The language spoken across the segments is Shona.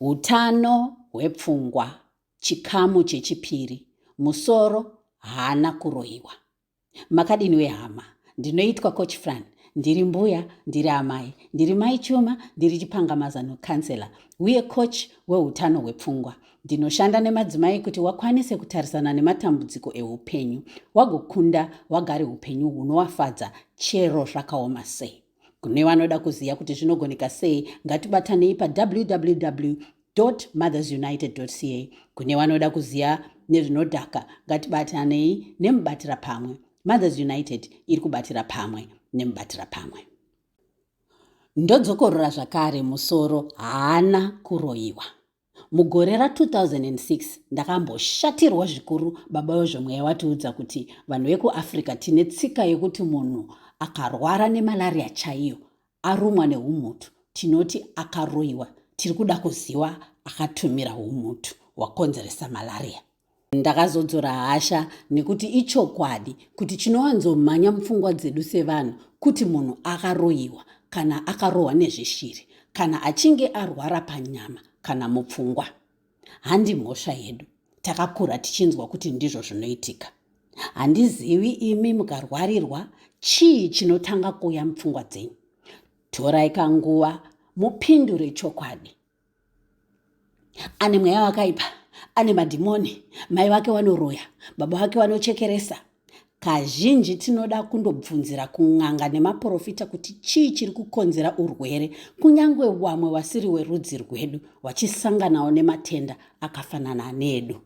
Utano hwepfungwa chikamu chechipiri musoro haana kuroiwa makadini we hama ndinoitwa coach fran ndiri mbuya ndiri amai ndiri mai chuma ndiri chipangamazano councilor uye coach weutano hwepfungwa ndinoshanda nemadzimai kuti wakwanise kutarisana nematambudziko eupenyu wagokunda wagare upenyu hunowafadza chero zvakaoma sei Kune vanoda kuziva kuti zvinogoneka sei, ngatibatanei pawww mothersunited ca kune vanoda kuziva nezvinodhaka ngatibatanei nemubatira pamwe mothers united iri kubatira pamwe nemubatira pamwe ndodzokorora zvakare musoro haana kuroyiwa Mugore ra 2006 ndakamboshatirwa zvikuru baba wezvemweya watiudza kuti vanhu vekuAfrica tine tsika yekuti munhu akarwara nemalaria chaiyo arumwa neumhutu tinoti akaroiwa tiri kuda kuziwa akatumira umhutu hwakonzeresa malaria. Ndakazodzora hasha nekuti ichokwadi kuti chinowanzomhanya mupfungwa dzedu sevanhu kuti munhu akaroyiwa kana akarohwa nezveshiri kana achinge arwara panyama kana mupfungwa. Handi mhosva yedu, takakura tichinzwa kuti ndizvo zvinoitika. Handizivi imi mukarwarirwa chii chinotanga kuuya mupfungwa dzenyu. Torai kanguva mupindure chokwadi. ane mweya wakaipa ane madhimoni mai vake vanoroya baba vake vanochekeresa kazhinji tinoda kundobvunzira kun'anga nemaprofita kuti chii chiri kukonzera urwere kunyange vamwe vasiri werudzi rwedu vachisanganawo nematenda akafanana nedu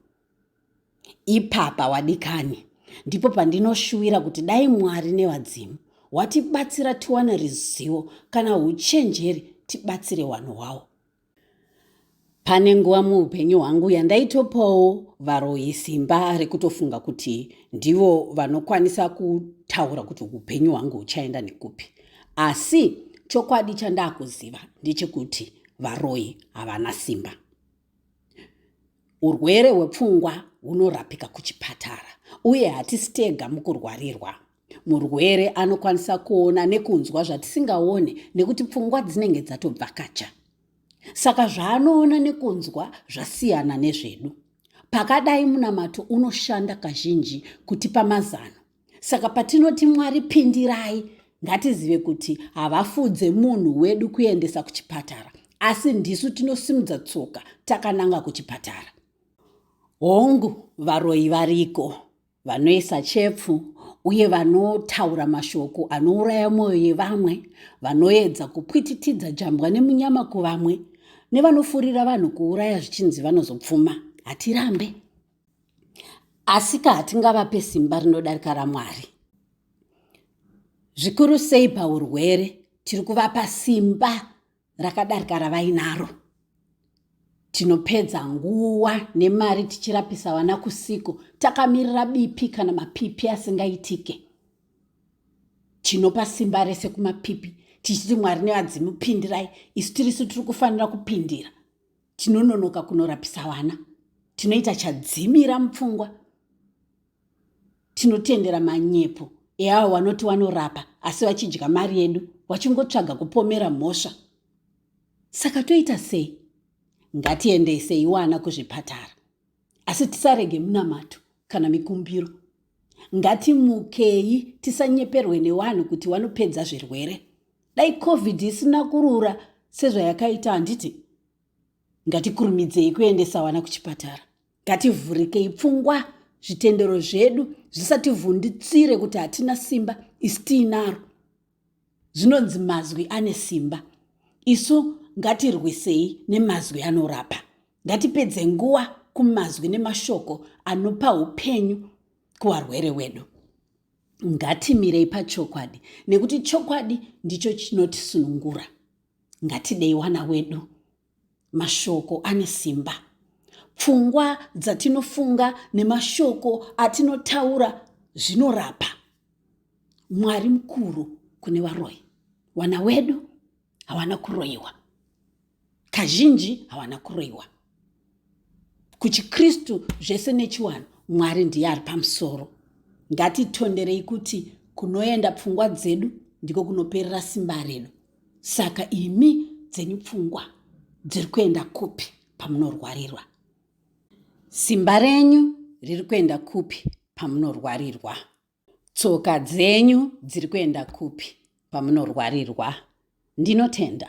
Ipapa wadikani ndipo pandinoshuwira kuti dai Mwari nevadzimu watibatsira tiwane rizivo kana huchenjeri tibatsire wanhu wawo. Pane nguva muupenyu hwangu yandaitopawo varoyi simba rekutofunga kuti ndivo vanokwanisa kutaura kuti upenyu hwangu huchaenda nekupi. Asi chokwadi chandakuziva ndechekuti varoyi havana simba. Urwere hwepfungwa hunorapika kuchipatara uye hatisi tega mukurwarirwa. Murwere anokwanisa kuona nekunzwa zvatisingaone nekuti pfungwa dzinenge dzatobvakacha. Saka zvaanoona nekunzwa zvasiyana nezvedu. Pakadai munamato unoshanda kazhinji kutipa mazano Saka patinoti Mwari pindirai, ngatizive kuti havafudze munhu wedu kuendesa kuchipatara, asi ndisu tinosimudza tsoka takananga kuchipatara. Hongu, varoyi variko vanoisa chepfu uye vanotaura mashoko anouraya mwoyo yevamwe, vanoedza kupwititidza jambwa nemunyama kuvamwe, nevanofurira vanhu kuuraya zvichinzi vanozopfuma. Hatirambe. Asika hatingavape simba rinodarika raMwari. Zvikuru sei paurwere, tiri kuvapa simba rakadarika ravainaro. Tinopedza nguva nemari tichirapisa vana kusiko, takamirira bipi kana mapipi asingaitike. Tinopa simba rese kumapipi tichiti Mwari nevadzimu pindirai, isu tirisu tiri kufanira kupindira. tinononoka kunorapisa vana tinoita chadzimira mupfungwa tinotendera manyepo eavo vanoti vanorapa asi vachidya mari yedu vachingotsvaga kupomera mhosva saka toita sei ngatiendesei wana kuzvipatara asi tisarege munamato kana mikumbiro ngatimukei tisanyeperwe nevanhu kuti vanopedza zvirwere dai covid isina kurura sezvayakaita handiti ngatikurumidzei kuendesa vana kuchipatara ngativhurikei pfungwa zvitendero zvedu zvisativhunditsire kuti hatina simba isi tiinaro zvinonzi mazwi ane simba isu ngatirwisei nemazwi anorapa ngatipedze nguva kumazwi nemashoko anopa upenyu kuvarwere wedu Ngatimirei pachokwadi nekuti chokwadi ndicho chinotisunungura. Ngatidei wana wedu. Mashoko ane simba. Pfungwa dzatinofunga nemashoko atinotaura zvinorapa. Mwari mukuru kune varoyi. Wana wedu. hawana kuroyiwa kazhinji hawana kuroyiwa kuchikristu zvese nechiwanhu mwari ndiye ari pamusoro ngatitonderei kuti kunoenda pfungwa dzedu ndiko kunoperera simba redu saka imi dzenyu pfungwa dziri kuenda kupi pamunorwarirwa simba renyu riri kuenda kupi pamunorwarirwa Tsoka dzenyu dziri kuenda kupi pamunorwarirwa? Ndinotenda.